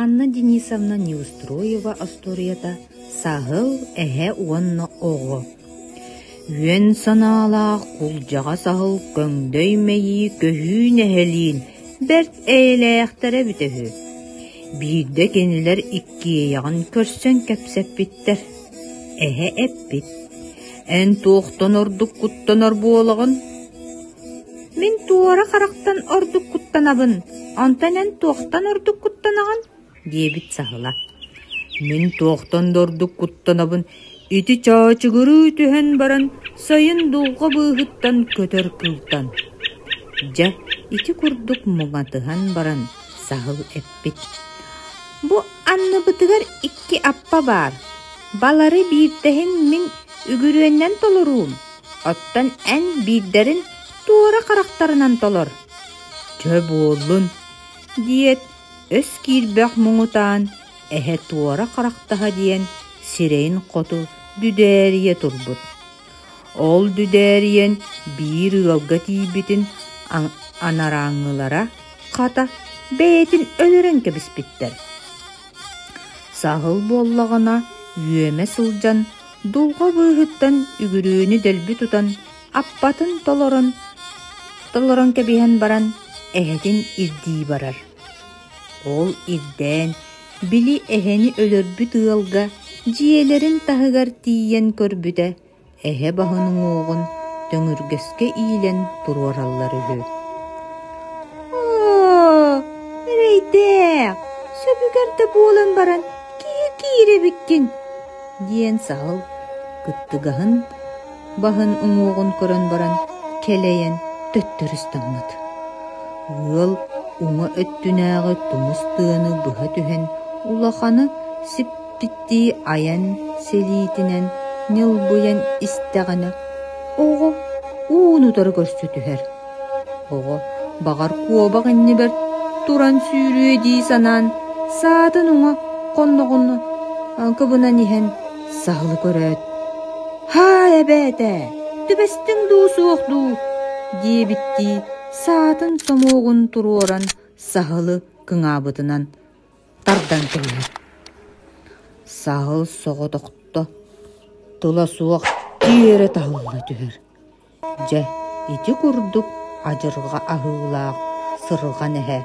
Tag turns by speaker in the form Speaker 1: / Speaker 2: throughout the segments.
Speaker 1: Анна Денисовна Неустроева остуоруйата саһыл, эһэ уонна оҕо Үөн санаалаах кулдьаҕас аһыл көҥдөй мэйии көһүү нэһилиин бэрт эйэлээхтэрэ эбитэ үһү. Биирдэ кинилэр иккиэйэҕин көрсөн кэпсэппиттэр. Эһэ эппит: «Эн туохтан ордук куттанар буолаҕын?» Мин туора харахтан ордук куттанабын, онтон эн туохтан ордук куттанаҕын? диэбит саһыла. Мин туохтан да ордук куттанабын, ити чаачыгырыы түһэн баран, сайын дулҕа быыһыттан көтөр кылтан. Дьэ, ити курдук муҥатыһан баран саһыл эппит. Бу анныбытыгар икки аппа баар. Балары биирдэһин мин үгүрүөннэн толоруум. Оттон эн биирдэрин туора харахтарынан толор. «Чэ буоллун», – диэт, өс киирбэх муҥутаан эһэ туора харахтаһа диэн сирэйин хоту дүдээрийэ турбут. Ол дүдээрийэн биир ыалга тиийбитин анарааҥҥылара хата бэйэтин өлөрөн кэбиспиттэр. Саһыл буоллаҕына үөмэ сылдьан дулҕа быыһыттан үгүрүөнү дэлби тутан аппатын толорон толорон кэбиһэн баран эһэтин ирдии барар. Ол ирдээн били эһэни өлөрбүт ыалга дьиэлэрин таһыгар тиийэн көрбүтэ эһэ баһын уҥуоҕун төҥүргэскэ иилэн туруораллар үһү. Оо, эрэйдээх, сөбүгэр да буолан баран киир киир эбиккин диэн саһыл кыттыгаһын баһын уҥуоҕун көрөн баран кэлэйэн төттөрүстэммит. Ыал уҥа өттүнээҕи тумус тыаны быһа түһэн улаханы сиппиттии айан сэлиитинэн ньылбыйан истэҕинэ оҕо уун утары көрсө түһэр. Оҕо, баҕар, куобах иннибэр туран сүүрүө дии санаан, саатын уҥа хонноҕун кыбынан иһэн саһылы көрөөт: «Һаа, эбээтэ, түбэстиҥ дуу, суох дуу?» диэбиттии саатын сомуогун туруоран саһылы кыҥаабытынан тардан кэбиһэр. Саһыл соҕотохто, тыла суох тиэрэ таһылла түһэр. Дьэ, ити курдук адьырҕа аһыылаах, сырҕан эһэ,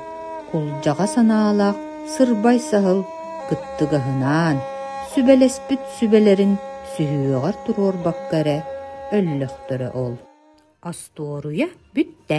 Speaker 1: кулдьаҕа санаалаах сырбай саһыл кыттыгаһынаан, сүбэлэспит сүбэлэрин сүһүөҕэр туруорбакка эрэ өллөхтөрө ол. Остуоруйа бүттэ.